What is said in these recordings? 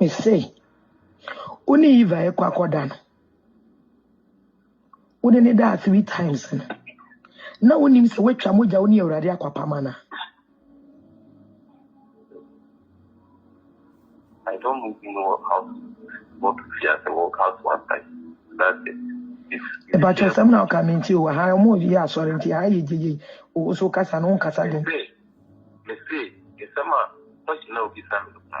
Mise, wo ne Eva ɛkɔ akɔda no, wo ne ne daa three times no, na wonim sɛ woatwa mogya wo ne Awurade akwapam anaa? I don't move in work out, not to fear the work out one time. That's it. If you Ɛba kyɛ fear sɛm na ɔka mente o, aha ɔmo yɛ asɔre nti aha yɛ gyegye, o so kasa no nkasa den. Mese, mese, nsɛm a question a obisa me no paa.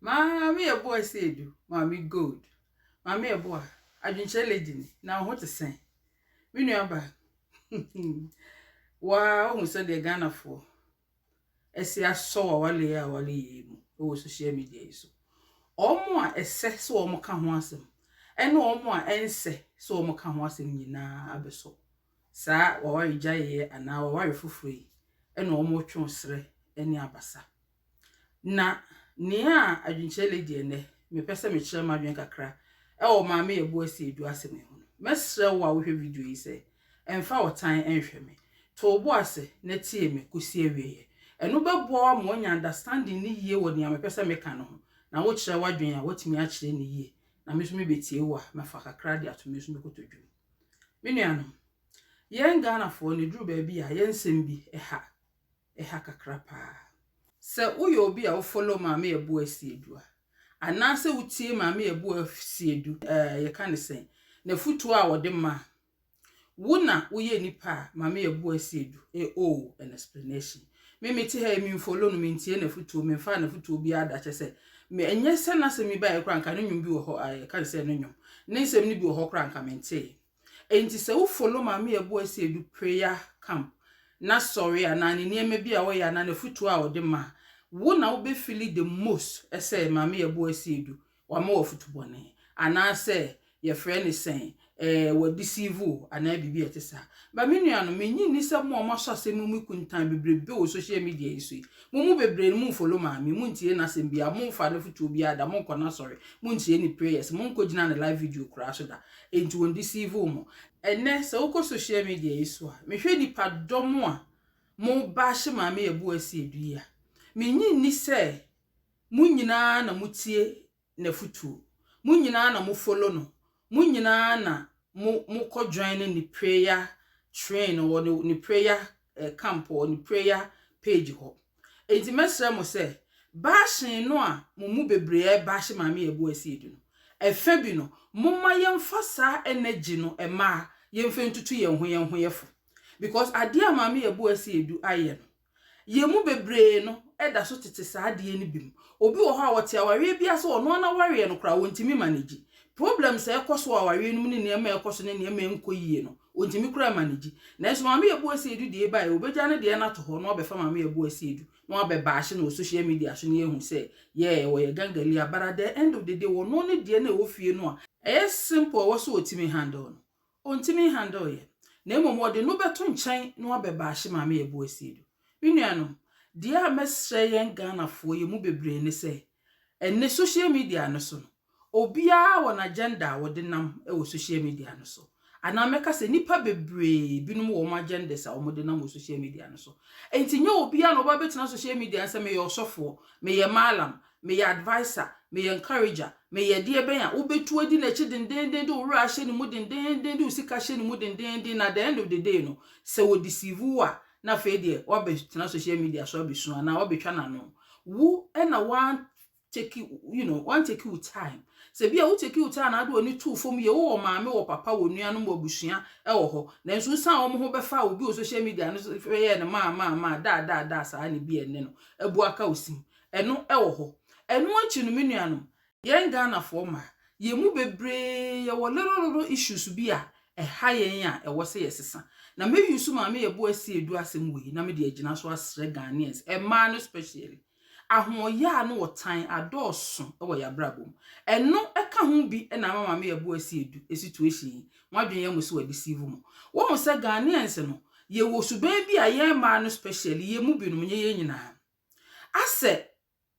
Maame yɛ boa esi edu, maame gold. Maame yɛ boa, adwenkyerɛ lady ni, na wo ho te sɛn? Me nua ba, waa wohu sɛ deɛ Ghanafoɔ ɛsi asɔ wawale yɛ awale yie mu wɔ social media yi so. Wɔn a ɛsɛ sɛ wɔn ka ho asɛm ɛne wɔn a ɛnsɛ sɛ wɔn ka ho asɛm nyinaa abɛsɔ saa waware gyaeɛ anaa waware foforɔ yi ɛna wɔn twɛn srɛ ɛne abasa. Na nea adwenkyerɛ lady ɛnɛ, mepɛ sɛ mekyerɛ m'adwene kakra ɛwɔ maame yɛ bo asi edu asɛm yi ho no. Mɛsrɛ wo a wohwɛ video yi sɛ ɛmfa ɔtan ɛnhwɛ me. To wo bo ase na tie me kɔsi awieɛ. Ɛno bɛboa wo ama woanya understanding no yie wɔ nea mepɛ sɛ meka no ho. Na wokyerɛ w'adwene a, woatumi akyerɛ no yie. Na me nso mebɛtie wo a, mɛfa kakra de ato me nso me kotodwe mu. Me nuanom, yɛn Ghanafoɔ no ɛduru baabi a yɛn nsɛm bi ɛha. ɛha kakra paa. Sɛ woyɛ obi a wo follow Maame Abu Asiedu a, anaasɛ wotie Maame Abu Asiedu ɛɛ yɛka no sɛn, n'afutuo a ɔde ma a, wo na woyɛ nipa a Maame Abu Asiedu e owe an explanation. Me mete ha yi me nfollow no, mentie n'afutuo, memfaa n'afutuo biara da kyɛ sɛ me ɛnyɛ sɛ n'asɛm yi baeɛ koraa nka ne nnwom bi wɔ hɔ a yɛka no sɛ no nnwom, ne nsɛm no bi wɔ hɔ koraa nka mentee. Enti sɛ wo follow Maame Abuasi Adu prayer camp, n'asɔre anaa ne nneɛma bi a ɔyɛ anaa n'afotuo a ɔde ma a, wo na wo bɛ feeli the most sɛ Maame Abuasi Adu wama wo afotu bɔne anaa sɛ yɛfrɛ no sɛn eh, wa deceive wo anaa biribi a ɛte saa. But me nuanom, me nnye nni sɛ mo a mo asɔ asɛm mu mu kuntan bebrebe wɔ social media yi so yi, mo mu bebree no mo nfollow Maame, mo ntie n'asɛm biara, mo mfa n'afotuo biara da, mo nkɔ n'asɔre, mo ntie ne prayers, mo nkɔ gyina ne live video koraa so da. Enti wɔn deceive wo mo. Ɛnɛ sɛ wokɔ social media yi so a, mehwɛ nipa dɔm a mo baahye maame Yɛboase Adu yi a, mennye nni sɛ mo nyinaa na mo tie n'afutuo, mo nyinaa na mo follow no, mo nyinaa na mo mo kɔ joine ne prayer train wɔ ne prayer camp wɔ ne prayer page hɔ. Enti mɛsrɛ mo sɛ, baahyen no a mo mu bebree rebahye Maame Yeboah-Asiedu no, ɛfã bi no, momma yɛmfa saa energy no mma yɛmfa ntutu yɛn ho yɛn ho yɛfo. Because adeɛ a Maame Yeboah-Asiedu ayɛ no, yɛn mu bebree no da so tete saa adeɛ no bi mu. Obi wɔ hɔ a, ɔte awareɛ bi ase, ɔno ara n'awareɛ no koraa, ɔntumi manage. Problems a ɛkɔ so wɔ awareɛ no mu ne nneɛma a ɛkɔ so ne nneɛma a ɛnkɔ yie no, Ontumi koraa mma ne gye. Nanso Maame Yɛboa Asiedu deɛ bae, obegya ne deɛ no ato hɔ na wabɛfa Maame Yɛboa Asiedu na wabɛ bash no wɔ social media so na yɛahu sɛ yeah ɔyɛ gangalia but at the end of the day wɔno ne deɛ no a ɛwɔ fie no a ɛyɛ simple ɛwɔ sɛ ɔtumi handle no ɔntumi handle yɛ na mmom ɔde no bɛto nkyɛn na wabɛ bash Maame Yɛboa Asiedu. Me nuanom, deɛ a mɛsrɛ yɛn Ghanafoɔ yɛn mu bebree ne sɛ Ɛnnɛ social media no so no, obiara wɔ n'agenda a ɔde nam wɔ social media no so, anaa mɛka sɛ nnipa bebree binom wɔ wɔn agendas a wɔde nam wɔ social media no so. Enti nyɛ obiara na ɔba bɛtena social media no sɛ meyɛ ɔsɔfoɔ, meyɛ mallam, meyɛ adviser, meyɛ encourager, meyɛ deɛ bɛn a wobɛtu adi n'akyi dendeenden de wo werɛ ahyɛ ne mu dendeenden de wo sika ahyɛ ne mu dendeenden na the end of the day no sɛ wɔdeceive wo a na afei deɛ wabɛtena social media so abɛsu anaa wabɛtwa n'ano wo ɛna wan take you know wan take wo time sɛ bi a wo take wo time na ade w'ani too fam yɛ wowɔ maame wɔ papa wɔ nuanom wɔ abusua ɛwɔ hɔ nanso wosan wɔn ho bɛfa obi wɔ social media no yɛ no maa maa maa daa daa daa saa ne bi ɛnne no abu aka osim ɛno ɛwɔ hɔ ɛno akyi no me nuanom Yɛn Ghanafoɔ mma, yɛn mu bebree yɛwɔ little little issues bi a ɛha yɛn a ɛwɔ sɛ yɛsesa. Na mɛ use Maame Yɛbo Asi Adu asɛm wei na mede agyina so asrɛ Ghanaians, mmaa no specially. Ahoɔyaa ne ɔtan adɔɔso wɔ yɛn abrabɔ mu. Ɛno ka ho bi na ama Maame Yɛbo Asi Adu situation yi, mo adwene yɛ mo sɛ wɔadeceive mo. Woahu sɛ Ghanaians no, yɛwɔ suban bi a yɛn mmaa no specially, yɛn mu binom, nyɛ yɛn nyinaa, asɛ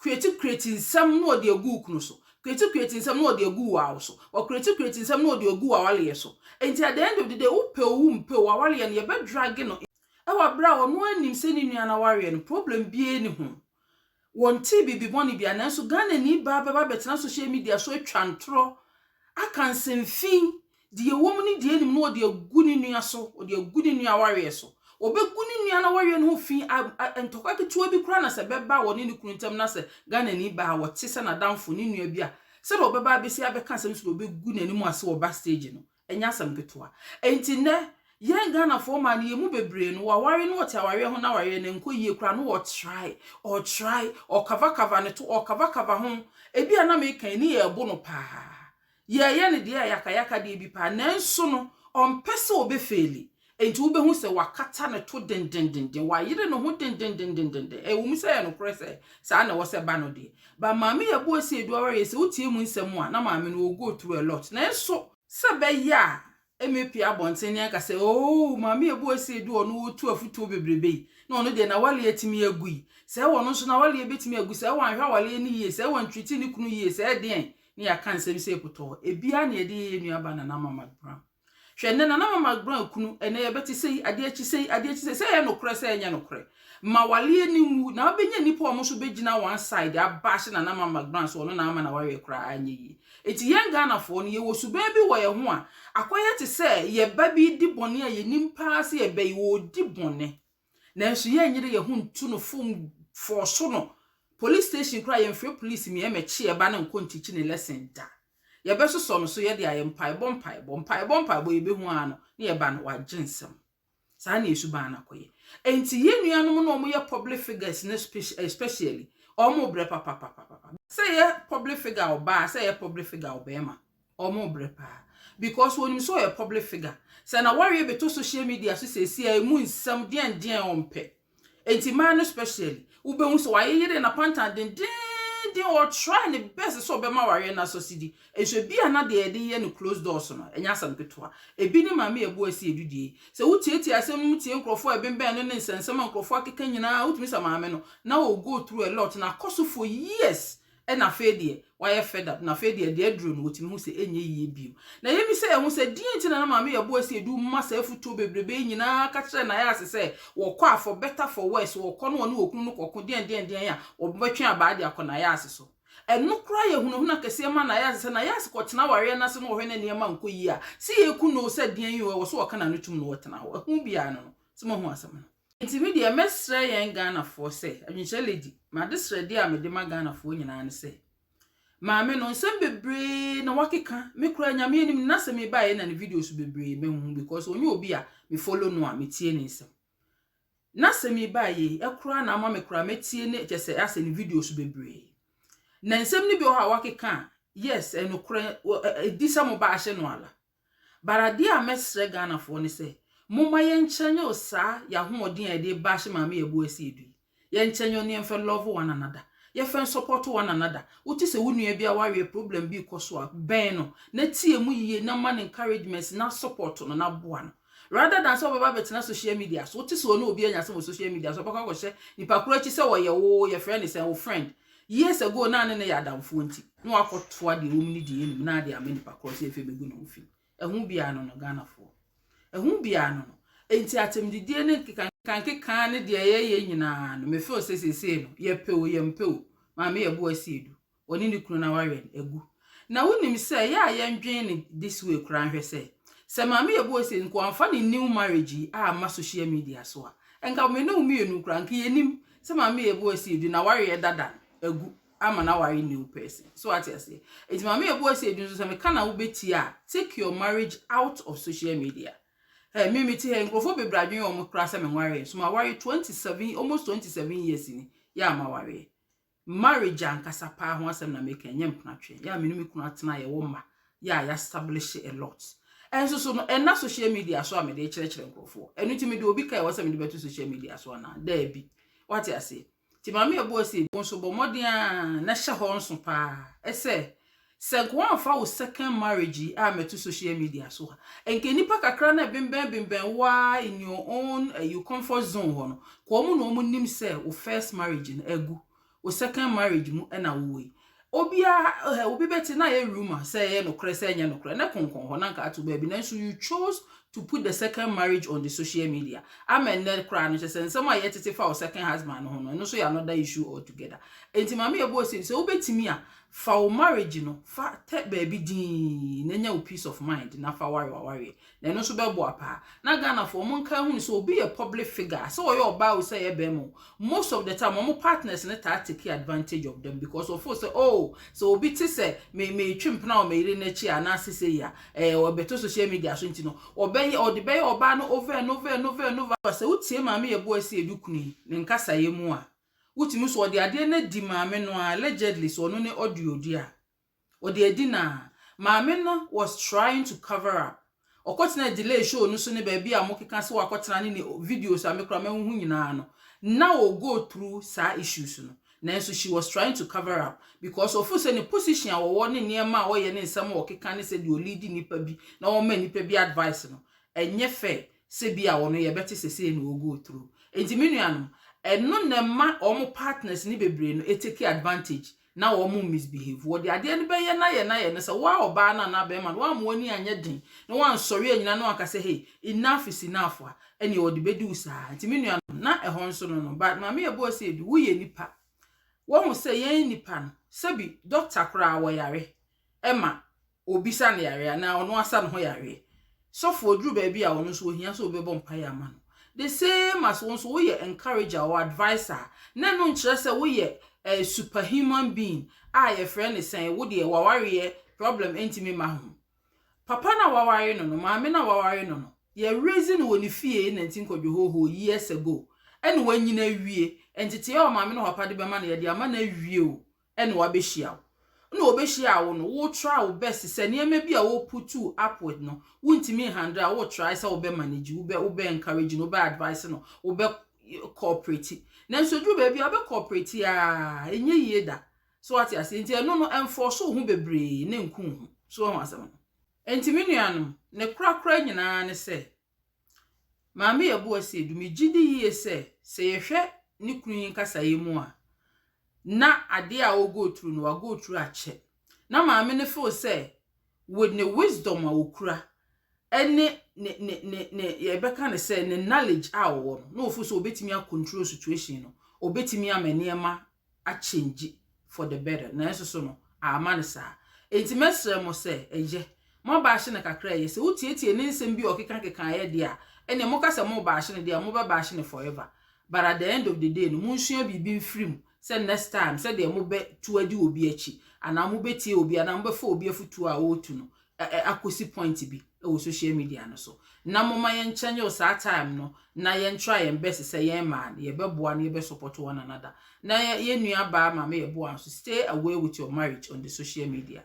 Kreti kreti nsɛm na ɔde agu wo kunu so. Kreti kreti nsɛm na ɔde agu wo awo so. Ɔkreti kreti nsɛm na ɔde agu w'awaleyɛ so. Enti at the end of the day, wopɛ o wompɛ o, w'awaleyɛ no yɛbɛdrage no wɔ berɛ a ɔno ara nim sɛ ne nua na wareɛ no, problem biara nni ho. Wɔntee biribi bɔne biara nanso Ghanani baa bɛba abɛtena social media so atwa ntorɔ, aka nsɛmfii Deɛ ɛwɔ mu ne deɛ ɛnim no ɔde agu ne nua so, ɔde agu ne nua awareɛ so. Ɔbɛgu ne nua no awareɛ no ho fi, ntɔkwa ketewa bi koraa na sɛ bɛba wɔne ne kunu ntam na sɛ Ghanani baa wɔte sɛ n'adamfo ne nua bi a, sɛdeɛ ɔbɛba abɛsi abɛka asɛm so deɛ ɔbɛgu n'anim ase wɔ bus stage no, ɛnyɛ asɛm ketewa. Enti nnɛ, yɛn Ghanafoɔ mmaa no, yɛn mu bebree no, wɔaware na wɔte awareɛ ho na awareɛ no nkɔ yie koraa na wɔtrae, ɔtrae, ɔkavakava ne to, ɔkavakava ho, ebi a na meka ani yɛ ɛbo no paa. Yɛreyɛ no deɛ ayakayaka deɛ bi paa nanso no ɔmpɛ sɛ ɔbɛfeeli enti wobɛhu sɛ wakata ne to dendendenden, wayere ne ho dendendendenden. Ɛwɔ mu sɛ ɛyɛ nokorɛ sɛ saa na ɛwɔ sɛ ɛba no deɛ, but Maame Yabuasi Adu Awareɛ sɛ wotie mu nsɛm a na maame no ɔgo through a lot nanso, sɛ ɛbɛyɛ a Mmepue abɔnten ne anka sɛ, Oo, Maame a ɛbɔ ase du a ɔno ɔtu afutuo bebrebe yi, na ɔno deɛ n'awaleɛ atumi agu yi, sɛɛ wɔno nso n'awaleɛ bɛtumi agu, sɛɛ wanhwɛ awaleɛ no yie, sɛɛ wantreati ne kunu yie, sɛɛ deɛn, ne yɛaka nsɛm sei pɔtɔɔ. Ɛbiara na yɛde yɛ yɛn nuabaa Nana Mama Brown. Hwɛ, nnɛ Nana Mama Brown kunu, ɛnnɛ yɛbɛte sei, adeɛ akyi sei, adeɛ akyi sei, sɛ ɛyɛ nokorɛ, sɛ ɛnyɛ nokorɛ. Ma waleɛ no nwu na wobɛnya nnipa a wɔn nso bɛgyina one side abashe Nana Ama McBrand sɛ ɔno na ama n'awareɛ koraa anyɛ yie. Enti yɛn Ghanafoɔ no yɛwɔ suban bi wɔ yɛn ho a akɔyɛ te sɛ yɛn ba bi redi bɔne a yɛnim paa sɛ yɛn ba yi ɔredi bɔne nanso yɛnyere yɛn ho ntu no fo mfɔɔso no police station koraa yɛmfrɛ police mmia mmɛkye yɛn ba no nkɔ ntikyi ne lesson da. Yɛbɛsosɔ no so yɛde ayɛ mpaebɔ mpaebɔ mpaebɔ mpaebɔ yɛbɛhu ara no ne yɛn ba no wagye nsam. Saa na esu baa na kɔyɛ. Enti yɛn nuanom na wɔyɛ public figures no especially, wɔn brɛ papapapapa. Sɛ yɛ public figure ɔbaa, sɛ yɛ public figure ɔbarima, wɔn brɛ paa. Because wɔnim sɛ ɔyɛ public figure. Sɛ na wɔawie bɛtɔ social media so seesei a, emu nsɛm deɛndeɛn wɔmpɛ. Enti mmaa no specially, wobɛhu sɛ wayeyere n'apantan dendeenden, ɔtry ne best sɛ ɔbɛma awareɛ no asɔ sidi. Nso ebi a na deɛ yɛde yɛ no closed doors no, ɛnyɛ asɛm ketewa. Ebi ne Maame Abu Asi Adu deɛ yi. Sɛ wotiatia asɛm no mu tie nkurɔfoɔ a ɛbembɛn no ne nsɛnsɛm a nkurɔfoɔ akeka nyinaa a, wotumi sɛ maame no, na ɔgo through a lot, na akɔ so for years na afei deɛ wayɛ fed up, na afei deɛ deɛ aduro no wɔtumi hu sɛ ɛnyɛ yie bio. Na yɛmi sɛ yɛhu sɛ deɛ nti na na maame yɛ boa sɛ ɛdu ma saa afutuo bebrebe yi nyinaa ka kyerɛ na yɛase sɛ wɔkɔ a for better for worse wɔkɔ no wɔne wɔkunu no kɔko deɛn deɛn deɛn a wɔbɛtwe abaa de akɔ na yɛase so. Ɛno koraa yɛ hunahuna kɛseɛ ma na yɛase sɛ na yɛase kɔtena awareɛ no ase no wɔhwɛ na nneɛma nkɔ yie a sɛ yɛku no o sɛ deɛn o ɛwɔ sɛ wɔka n'ano tum no wɔtena hɔ. Ɛho biara no no sɛ moahu asɛm no. Nti me deɛ mɛsrɛ yɛn Ghanafoɔ sɛ, Adwenkyerɛ Lady, m'adesrɛdeɛ a mede ma Ghanafoɔ nyinaa ne sɛ, maame no, nsɛm bebree na wakeka, me koraa Nyame anim no, na sɛ mebaeɛ na ne videos bebree mahu because ɔnyɛ obi a me follow no a metie ne nsɛm. Na sɛ mebaeɛ yi, ɛkoraa na ama me koraa mɛtie ne kyɛ sɛ asɛ ne videos bebree. Na nsɛm no bi wɔ hɔ a wakeka a, yes, ɛnokorɛ, ɛdi sɛ mo ba ahyɛ no ala. But adeɛ a mɛsrɛ Ghanafoɔ ne sɛ, momma yɛnkyɛ nyɛ o saa yɛ ahoɔden a yɛde bash Maame Yɛbo Asiedu yi. Yɛnkyɛ nyɛ o na yɛmfɛ love one another. Yɛfɛ nsupporto one another. Wote sɛ wo nua bi a waweɛ problem bi rekɔ so a, bɛn no, na tie mu yie na ma no encouragements na support no na boa no. Rather than sɛ wobɛba abɛtena social media so, wote sɛ ɔne obi anya asɛm wɔ social media so, wobɛkɔ akɔhyɛ nipa korɔ akyi sɛ ɔyɛ wo, yɛfrɛ no sɛn, wo friend. Years ago na ne ne yɛ adamfoɔ nti na wakɔtoa deɛ wɔm ne deɛ anim na ade ama nipa korɔ sɛ afei bɛgu ne ho fi. Ɛho biara no no Ghanafoɔ. Ɛho biara no no. Enti atɛmdidie ne nkekankeka ne deɛ yɛyɛ nyinaa no mefeel sɛ seesei no yɛpɛ o yɛmpɛ o maame yɛbo asi edu. Ɔne ne kunu na wawɛn agu Na wonim sɛ ɛyɛ a yɛndwen no this way koraa nhwɛ sɛ, sɛ Maame Yɛbɔ Ose nko amfa ne new marriage yi amma social media so a, nka me ne wo mmienu koraa nka yɛnnim sɛ Maame Yɛbɔ Ose Edu n'awareɛ dada no agu ama no aware new person. So ate aseɛ? Enti Maame Yɛbɔ Ose Edu nso sɛ meka na wobɛtie a, take your marriage out of social media. Hɛ, me mete ha yi, nkurɔfoɔ bebree adwene wɔn koraa sɛ menwareɛ nso mawareɛ 27, almost 27 years ni, yɛ a mawareɛ. Marriage ankasa paa ho asɛm na meka, ɛnyɛ mpenatwe. Yɛ a me ne me kunu atena, yɛwɔ mma, yɛ a yɛaestablish a lot. Ɛnso so no, ɛnna social media so a mede rekyerɛkyerɛ nkurɔfoɔ. Ɛno nti mede obi ka a ɛwɔ sɛ mede bɛto social media so anaa? Daabi. Woate aseɛ? Nti Maame Ɛboɔ se, wo nso bɔ mmɔden ara na hyɛ hɔ nso paa sɛ Sɛ nka woamfa wo second marriage yi ammɛto social media so a, nka nnipa kakra no ɛbenbɛn benbɛn wo ara in your own ɛyi comfort zone hɔ no, nka wɔn na wɔn nim sɛ wo first marriage no agu, wo second marriage mu na wowɔ yi. Obiara, ɛhɛ, obi bɛte na ayɛ rumor sɛ ɛyɛ nokorɛ sɛ ɛnyɛ nokorɛ, na ɛkonkɔn hɔ na nka ato baabi, nanso you chose to put the second marriage on the social media. Ama nnɛ koraa no, kyerɛ sɛ nsɛm a yɛtete fa wo second husband no ho no, ɛno nso yɛ another issue altogether. Enti ma me yɛbɔ ose, sɛ wobɛtumi a, Fa wo marriage no fa tɛ baabi dinn na nya wo peace of mind na fa ware w'awareɛ na ɛno nso bɛboa paa. Na Ghanafoɔ wɔn nkae hunu sɛ obi yɛ public figure a sɛ ɔyɛ ɔbaa o sɛ ɛyɛ barima o most of the time wɔn partners no taa take advantage of them because wɔfeel sɛ oh sɛ obi te sɛ me metwe mpena wɔ me yere no akyi a anaase sei a ɛɛ ɔbɛto social media so nti no ɔbɛyɛ ɔde bɛyɛ ɔbaa no over and over and over and over. Sɛ wotie Maame Yeboah Asiedu Kunu yi ne nkasaeɛ mu a, Wotumi so ɔde adeɛ no adi maame no ara, allegedly sɛ ɔno ne audio deɛ a, ɔde adi no ara. Maame no was trying to cover up. Ɔkɔtenaa delay show no so ne baabi a wɔkeka sɛ wakɔtena ne ne videos a me koraa mahu ho nyinaa no, na ɔgo through saa issues no. Nanso she was trying to cover up because ɔfeel sɛ ne position a ɔwɔ ne nneɛma a ɔyɛ ne nsɛm a ɔkeka ne sɛdeɛ ɔleadi nnipa bi na ɔma nnipa bi advice no, ɛnyɛ fair. sɛ bi a wɔno yɛbɛte sɛ sei na wɔgo through. Enti me nuanom, ɛno na ɛma wɔn partners no bebree no take advantage na wɔn misbehave. Wɔde adeɛ no bɛyɛ no ayɛ no ayɛ no sɛ wo ara ɔbaa no anaa barima no woamma w'ani anyɛ den na woansɔre anyina na woanka sɛ hey, enough is enough a, ɛnneɛ wɔde bɛdi wo saa. Nti me nuanom, na ɛhɔ nso no no, but Maame Yɛboa Ose Adu, woyɛ nipa. Woahu sɛ yɛn nnipa no, sɛbi, doctor koraa wɔyare ma Obisa no yareɛ anaa ɔno asa ne ho yareɛ. Sɔfo ɔduru baabi a ɔno nso ɔhia sɛ obi bɛbɔ mpaeɛ ama no. The same as wo nso woyɛ encourager or adviser a, na ɛno nkyerɛ sɛ woyɛ a super human being a yɛfrɛ no sɛn, wo deɛ w'awareɛ problem ntumi mma ho. Papa no a waware no no, maame no a waware no no, yɛ raise no wɔ ne fie na nti nkɔdwohoohoo years ago ɛna wanyini awie. Nteteɛ a maame ne papa de bɛma no yɛde ama no awie o. na wabehyia wo. Nna obehyia wo no, wo try wo best sɛ nneɛma bi a wo putuu up with no, wo ntumi nhandle a, wo try sɛ wo bɛ manage, wo bɛ wo bɛ encourage no, wo bɛ advice no, wo bɛ cooperate. Nanso eduru baabi a, ɔbɛ cooperate aa, ɛnyɛ yie da. So wate aseɛ? Nti ɛno no, ɛnfɔɔso wo ho bebree na ɛnku wo ho. So wahu asɛm no? Nti me nuanom, ne korakora nyinaa ne sɛ, Maame Yeboah se, Edu, megye di yie sɛ, sɛ yɛhwɛ ne kunu yi nkasaeɛ mu a, na adeɛ a ɔ go through no, wa go through akyɛ. Na maame no feel sɛ, with ne wisdom a ɔkura, ɛne ne, ne, ne, ne, yɛbɛka no sɛ, ne knowledge a ɔwɔ no, na ɔfeel sɛ ɔbɛtumi a control situation no, ɔbɛtumi ama nneɛma a change for the better nanso so no amma no saa enti mɛsrɛ mo sɛ ɛyɛ mo aba ahye no kakra ɛyɛ sɛ wotietie ne nsɛm bi a ɔkeka keka ɛyɛ deɛ a ɛnneɛ moka sɛ mo ba ahye no deɛ a mobɛba ahye no forever but at the end of the day no monsua biribi mfiri mu sɛ next time sɛdeɛ mobɛtu adi obi akyi anaa mobɛtie obi anaa mobɛfa obi afotuo a ɔretu no ɛ ɛ akosi point bi wɔ social media no so na moma yɛn kyɛ nyɛ o saa time no na yɛn try yɛn best sɛ yɛn maa no yɛ bɛ boa no yɛ bɛ support one another na yɛn nua baa maame yɛ boa nso stay away with your marriage on the social media.